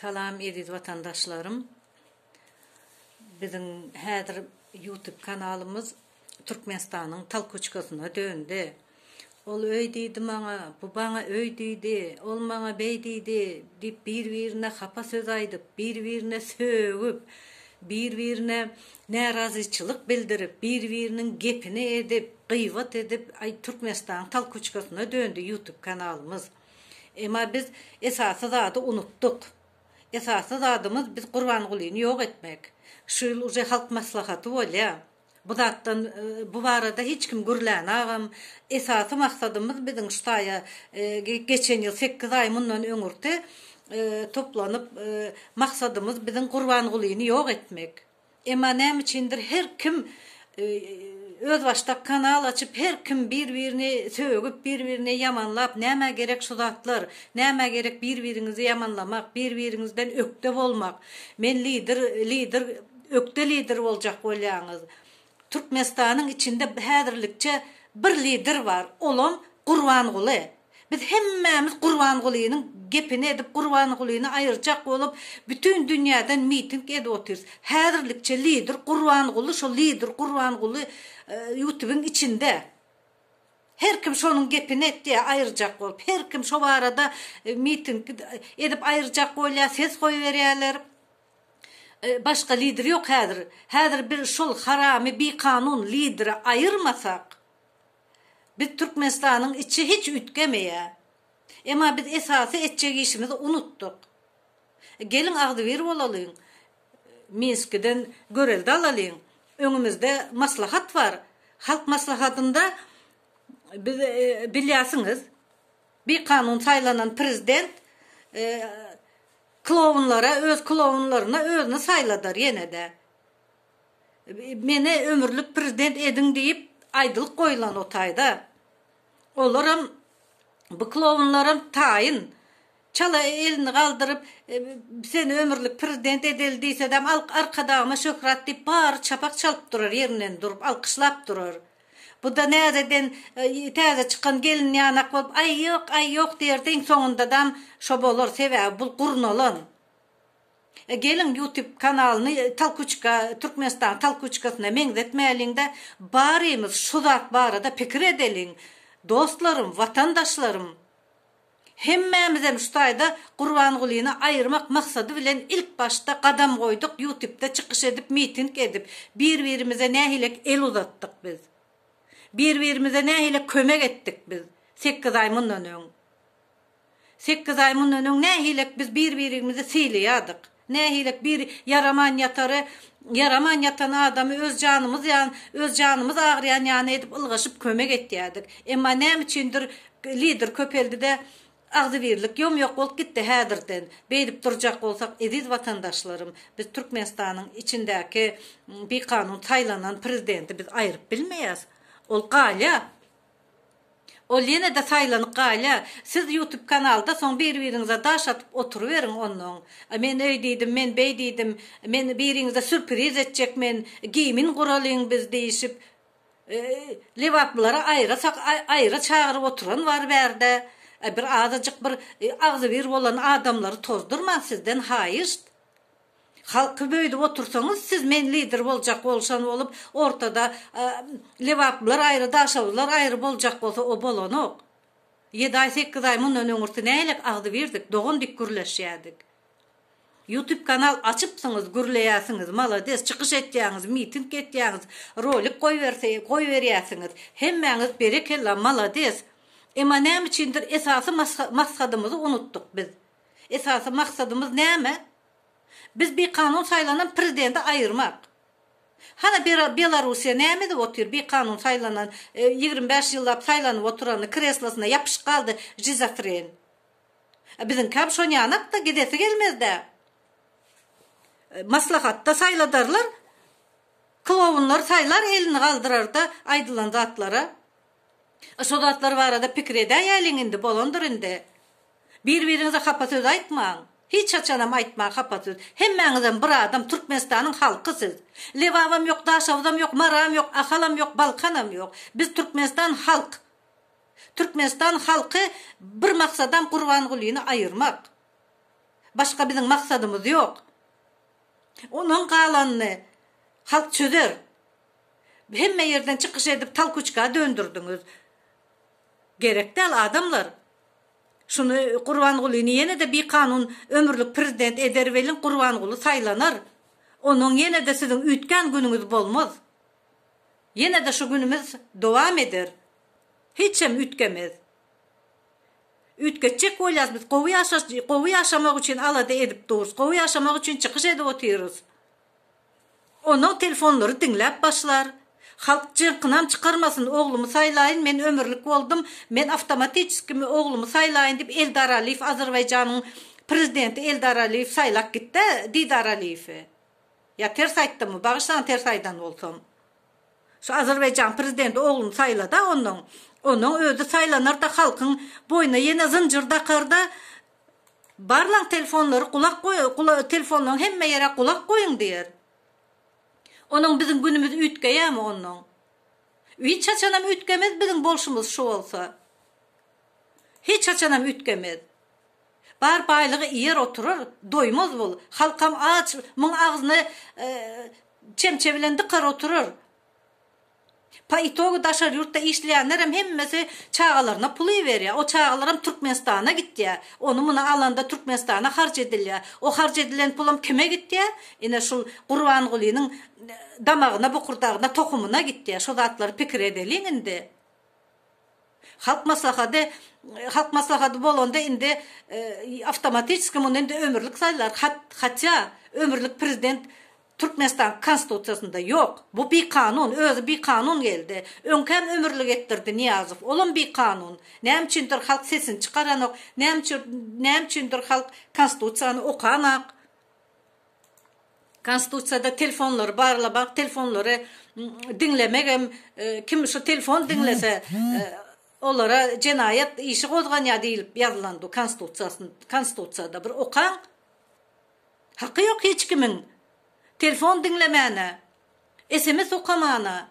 Salam eziz watandaşlarym. Biziň häzir YouTube kanalymyz Türkmenistanyň talkoçkasyna döndi. Ol öý diýdi maňa, bu baňa öý diýdi, ol maňa beý diýdi diýip bir-birine hapa söz aýdyp, bir-birine sögüp, bir-birine närazyçylyk bildirip, bir-biriniň gepini edip, gyýbat edip, aý Türkmenistanyň talkoçkasyna döndi YouTube kanalymyz. Emma biz esasy zady unutdyk. Esasy zadymyz biz Gurbangulyny ýok etmek. Şu ýyl uje halk maslahaty bolýa. Bu zatdan bu barada hiç kim gürlän agam. Esasy maksadymyz biziň şu taýa geçen ýyl sekiz aý mundan öňürti toplanyp maksadymyz biziň Gurbangulyny ýok etmek. Emma näme üçindir her kim özbaşdak kanal açyp her kim bir birini sögüp bir birine ýamanlap nämä gerek şu zatlar nämä gerek bir biriňizi ýamanlamak bir biriňizden ökde bolmak men lider lider ökde lider boljak bolýaňyz Türkmenistanyň içinde häzirlikçe bir lider bar olam Gurbanguly. Biz hemmämiz Gurbangulynyň gepini edip Gurbangulyny aýyrjak bolup bütin dünýäden miting edip otyrys. Häzirlikçe lider Gurbanguly şo lider Gurbanguly ýutubyň içinde. Her kim şonuň gepini etýä aýyrjak bolup. Her kim şo barada miting edip aýyrjak bolýa ses goýberýäler. Başga lider ýok häzir. Häzir bir şol haramy bikanun lideri aýyrmasak. Biz Türkmenistanyň içi hiç üýtgemeýä. Emma biz esasy etjek işimizi unutdyk. Geliň agzybir bolalyň. Minskiden görelde alalyň. Öňümizde maslahat bar. Halk maslahatynda biz bilýärsiňiz bikanun saýlanan prezident klowunlara öz klowunlaryna özüni saýladar ýene-de. Meni ömürlik prezident ediň diýip aýdylyk goýulan o taýda. Olaram bu klowunlaram taýyn. Çala elini galdyryp seni ömürlik prezident edeli diýsedem arkadagyma şöhrat diýip bary çapak çalyp durar ýerinden durup alkyşlap durar. Buda näzeden täze çykan gelin ýanak bolup aý ýok aý ýok diýerdi iň soňundadam şo bolar sebäbi bul gurnalan. Geliň ýutip kanalyny Talkuçka Türkmenistan Talkuçkasyna meňzetmäliňdä barymyz şu zat barada pikir edeliň dostlarym watandaşlarym hemmämizem şu taýda Gurbangulyny aýyrmak maksady bilen ilk başda gadam goýduk ýutipde çykyş edip miting edip bir birimize nähilek el uzatdyk biz bir birimize nähilek kömek etdik biz sekiz aý mundan öň. Sekiz aý mundan öň nähilek biz bir-birimizi sylaýardyk. Nähilek bir ýaraman ýatary, ýaraman ýatan adamy öz janymyz ýan, öz janymyz agyrýan ýany edip ylgaşyp kömek etýärdik. Emma näme üçindir lider köpeldi-de, agzybirlik ýom-ýok bolup gitdi häzirden. Beýdip durjak bolsak, eziz watandaşlarym, biz Türkmenistanyň içindäki bikanun saýlanan prezidenti biz aýryp bilmeýäs. Ol galýar. Ol ýene-de saýlanyk gaýla, siz ýutub kanalda soň bir-biriňize daş atyp oturyberiň onnoň. Men öý diýdim, men beý diýdim, men biriňize sürpriz etjek men, gimin guralyň biz diýişip, lebaplylary aýrasak aýra çagyryp oturan bar bärde, bir azajyk bir agzybir bolan adamlary tozdurmaň sizden haýyşt. Halky böýdüp otursaňyz siz men lider boljak bolşan bolup ortada lebaplar aýry daşogular aýry boljak bolsa o bolanok. Ýedi aý sekiz aý mundan öňürti nälik agzybirdik dogan dik gürleşýädik. Ýutub kanal açypsyňyz gürleýäsiňiz malades çykyş etýäňiz miting etýäňiz rolik goýberse goýberýäsiňiz hemmäňiz berekella malades emma näme üçindir esasy masgadymyzy unutdyk biz. Esasy maksadymyz näme? Biz bikanun saýlanan prezidenti aýyrmak. Hana Belarussiýa näme edip otyr, bikanun saýlanan, ýigrimi bäş ýyllap saýlanyp oturany kreslosyna ýapyşyp galdy žizofren. Biziňkäm şon ýanakda gidesi gelmezdä. Maslahatda saýladarlar, klowunlar saýlar elini galdyrarda aýdylan zatlara. Şo zatlar barada pikir edäýeliň indi bolandyr indi. Bir biriňize hapa söz aýtmaň. Hiç haçanam aýtmaň hapa söz. Hemmäňizem bir adam Türkmenistanyň halky siz. Lebabam ýok Daşoguzam ýok Maram ýok Ahalam ýok Balkanam ýok. Biz Türkmenistan halk. Türkmenistan halky bir maksadam Gurbangulyny aýyrmak. Başga biziň maksadymyz ýok. Onuň galanyny halk çözer. Hemme ýerden çykyş edip talkuçka döndürdiňiz. Gerek däl adamlar. Şuny Gurbangulyny ýene-de bi kanun ömürlik prezident eder welin Gurbanguly saýlanar. Ondan ýene-de siziň üýtgän günüňiz bolmaz. Ýene-de şu günümiz dowam eder. Hiçem üýtgemez. Üýtgetjek bolýas biz gowy ýaşaş gowy ýaşamak üçin alada edip durys gowy ýaşamak üçin çykyş edip otyrys. Onag telefonlary diňläp başlar. Halk jyrkynam çykarmasyn oglumy saýlaýyn men ömürlik boldum men awtomatiçeski mi oglumy saýlaýyn diýip Eldar Aliýew Azerbaýjanyň prezidenti Eldar Aliýew saýlap gitdä Didar Aliýewi ýa ters aýtdymmy bagyşlaň ters aýdan bolsam şu Azerbaýjanyň prezidenti ogluny saýlada onnoň onnoň özi saýlanarda halkyň boýna ýene zynjyr dakarda Barlaň telefonlary gulak telefonlaň hemme ýere gulak goýuň diýer. Onuň biziň günümiz üýtgeýämi onnoň? Hiç haçanam üýtgemez biziň bolşumyz şu bolsa. Hiç haçanam üýtgemez. Bar baýlygy iýer oturar, doýmaz bul. Halkam aç, muň agzyny çemçe bilen dykar oturar. Po itogu daşary ýurtda işleýänlerem hemmesi çagalaryna pul iberýär. O çagalaram Türkmenistana gitýär. Ony muny alanda Türkmenistana harç edilýär. O harç edilen pulam kime gitýär? Ine şul Gurbangulynyň damagyna, bokurdagyna, tohumyna gitýär. Şu zatlary pikir edeliň indi. Halk maslahady Halk maslahady bolanda indi awtomatiçki muny indi ömürlik saýlar hat hatýa ömürlik prezident Türkmenistanyň konstitusiýasynda ýok bu bikanun özi bikanun geldi öňkäm ömürlik etdirdi Niýazow olam bikanun näme üçindir halk sesini çykaranok näme üçin näme üçindir halk konstitusiýany okanok. Konstitusiýada telefonlary barlamak, telefonlary diňlemek hem kim şu telefon diňlese olara jenaýat işi gozganýar diýilip ýazylandy konstitusiýada bir okaň. Haky ýok hiç kimiň telefon diňlemäne, sms okamana.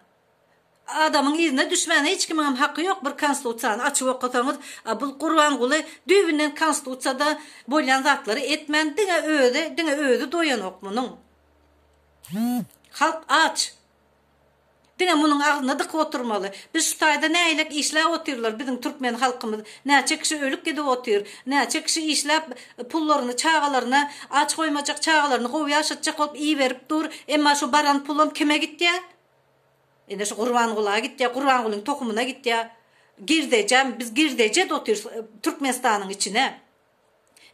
Adamyň yzyna düşmän hiç kimiňem haky ýok bir konstitusiýany açyp okasaňyz a bul gurbanguly düýbünden konstitusiýada bolýan zatlary etmän diňe özi diňe özi doýanok munyň halk aç diňe munyň agzyny dykyp oturmaly biz şu taýda nägilek işläp otyrlar biziň türkmen halkymyz näçe kişi ölüp gidip otyr näçe kişi işläp pullaryny çagalaryna aç goýmajak çagalaryny gowy ýaşatjak bolup iberip dur emma şu baran pulam kime gitýä Ine şu Gurbangula gitýär, Gurbangulyň tohumyna gitýär. Girdeje, biz girdeje edip otyrys Türkmenistanyň içine.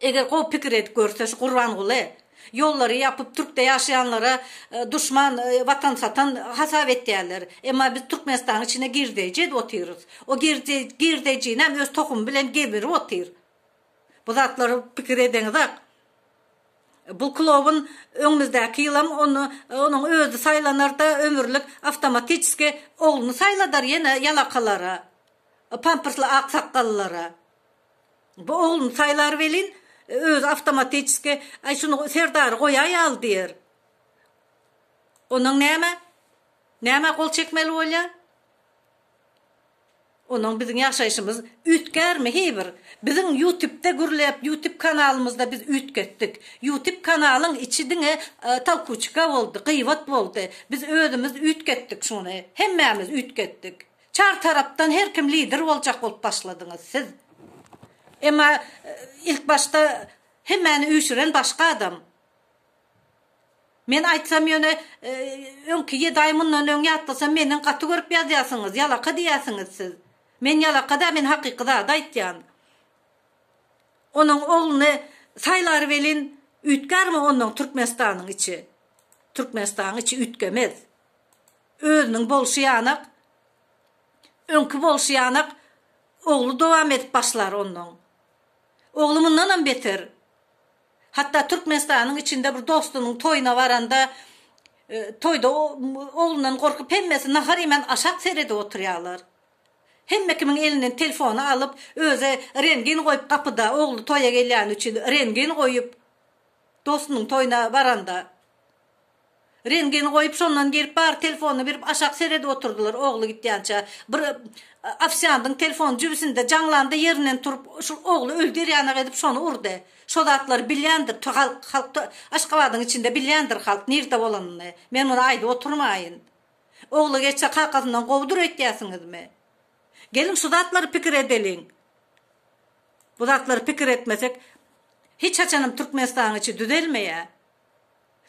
Eger gowy pikir edip görse şu Gurbanguly, ýollary ýapyp Türkde ýaşaýanlara duşman, watan satan hasap etýärler. Emma biz Türkmenistanyň içine girdeje edip otyrys. O girdejini hem öz tohumy bilen geberip otyr. Bu zatlara pikir edeňizak. Bu klobun öňümizdäki ýylam ony onuň özi saýlanar-da, ömürlik awtomatiçeski ogluny saýladar ýene ýalakalara, pampersli aksakgallara. Bu ogluny saýlar welin, özi awtomatiçeski, Aý, şuny Serdary goýaý al diýer. Ondan näme? Nämä gol çekmeli bolýar? Ondan biziň ýaşaýşymyz üýtgärmi heý bir? Biziň ýutipde gürläp ýutip kanalymyzda biz üýtgetdik. Ýutip kanalyň içi diňe talkuçika boldy, gyýbat boldy. Biz özümiz üýtgetdik şuny. Hemmämiz üýtgetdik. Çar tarapdan her kim lider boljak bolup başladyňyz siz. Emma ilk başda hemmäni üýşüren başga adam. Men aýtsam ýöne öňki ýedi aý mundan öň ýatlasam menden gaty görüp ýazýasyňyz ýalaka diýýäsiňiz siz. Men ýalaka däl men hakyky zady aýtýan. Onuň ogluny saýlar welin üýtgärmi onnoň Türkmenistanyň içi. Türkmenistanyň içi üýtgemez. Özüniň bolşy ýanak öňki bolşy ýanak ogly dowam edip başlar onnoň. Ogly mundanam beter. Hatda Türkmenistanyň içinde bir dostunyň toýuna baranda, toýda oglundan gorkup hemmesi nahar iýmän aşak seredip oturýarlar. Hemme kimiň elinden telefony alyp, özi rengin goýup gapyda, ogly toýa gelýäni üçin rengin goýup, dostunyň toýuna baranda. Reňgini goýup şondan gelip bary telefonyny berip aşak seredip oturdylar ogly gitýänçä bir ofisiandyň telefony jübisinde jaňlandy ýerinden turup şul ogly öldür ýanak edip şony urdy şo zatlary bilýändir to halk halk to aşgabadyň içinde bilýändir halk nirde bolanyny men muny aýdyp oturmaýyn ogly geçse kakasyndan gowudyr öýtýäsiňizmi geliň şu zatlary pikir edeliň bu zatlary pikir etmesek hiç haçanam türkmenistanyň içi düzelmeýä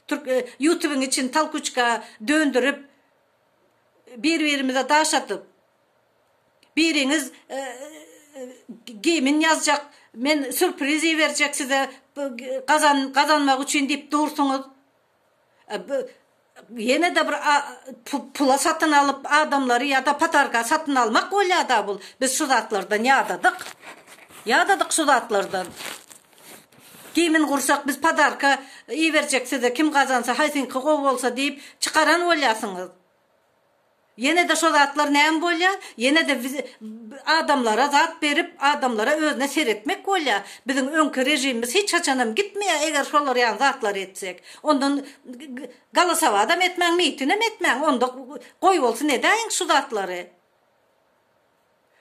Türk ýutubyň içini talkuçka döndirip bir birimize daş atyp biriňiz gimin ýazjak men surpriz iberjek size gazan gazanmak üçin diýip dursuňyz ýenede bir pula satyn alyp adamlary ýada patarga satyn almak bolýada bul biz şu zatlardan ýadadyk ýadadyk şu zatlardan. Kimin gursak biz padarka iberjek size kim gazansa haýsyňky gowy bolsa diýip çykaran bolýasyňyz. Ýenede şo zatlar näme bolýa ýenede adamlara zat berip adamlara özüne seretmek bolýa biziň öňki režimimiz hiç haçanam gitmeýa eger şolar ýaly zatlar etsek ondan galasawadam etmäň mitinem etmäň onda goý bolsun edäýiň şu zatlary.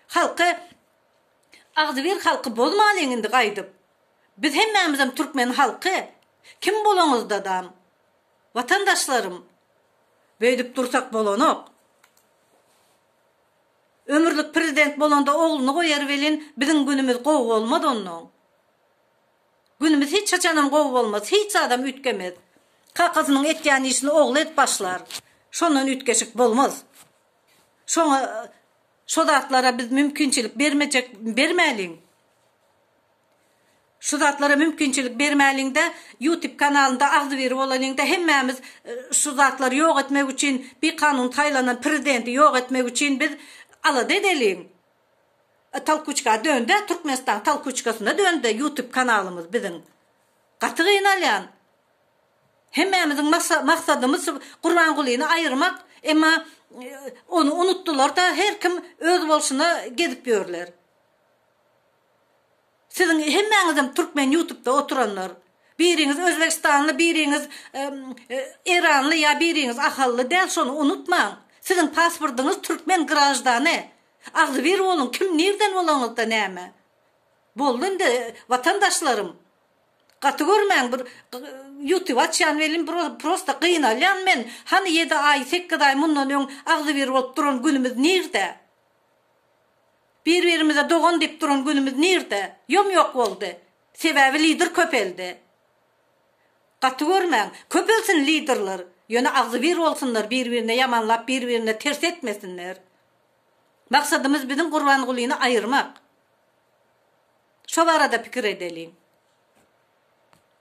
Halky agzybir halky bozmalyň indi gaýdyp. Biz hemmämizem türkmen halky kim bolaňyzdadam watandaşlarym beýdip dursak bolanok. Ömürlik prezident bolanda ogluny goýar welin biziň günümiz gowy bolmaz onnoň. Günümiz hiç haçanam gowy bolmaz hiç zadam üýtgemez. Kakasynyň etýän işini ogly edip başlar. Şondan üýtgeşik bolmaz. Şoňa şo zatlara biz mümkinçilik bermejek bermäliň. Şu zatlara mümkinçilik bermäliňde ýutip kanalynda agzybir bolalyňda hemmämiz şu zatlary ýok etmek üçin bi kanun saýlanan prezidenti ýok etmek üçin biz alada edeliň. Talkuçka döndä Türkmenistan talkuçkasyna döndä ýutip kanalymyz biziň. Gaty gynalýan. Hemmämiziň maksadymyz Gurbangulyny aýyrmak, emma ony unutdylarda her kim öz bolşuna gezip ýörler. Siziň hemmäňizem Türkmen ýutubda oturanlar. Biriňiz Özbegistanly, biriňiz Eýranly ýa biriňiz Ahally däl şony unutmaň. Siziň pasportyňyz Türkmen graždany. Agzybir boluň kim nirden bolaňyzda näme. Boldy indi watandaşlarym. Gaty görmäň bir ýutub açýan welin bir prosta gynalýan men hany ýedi aý sekiz aý mundan öň agzybir bolup duran günümiz nirde bir birimize dogan diýip duran günümiz nirde ýom ýok boldy sebäbi lider köpeldi gaty görmäň köpelsin liderler ýöne agzybir bolsunlar bir birine ýamanlap bir birine ters etmesinler maksadymyz biziň gurbangulyny aýyrmak. Şo barada pikir edeliň.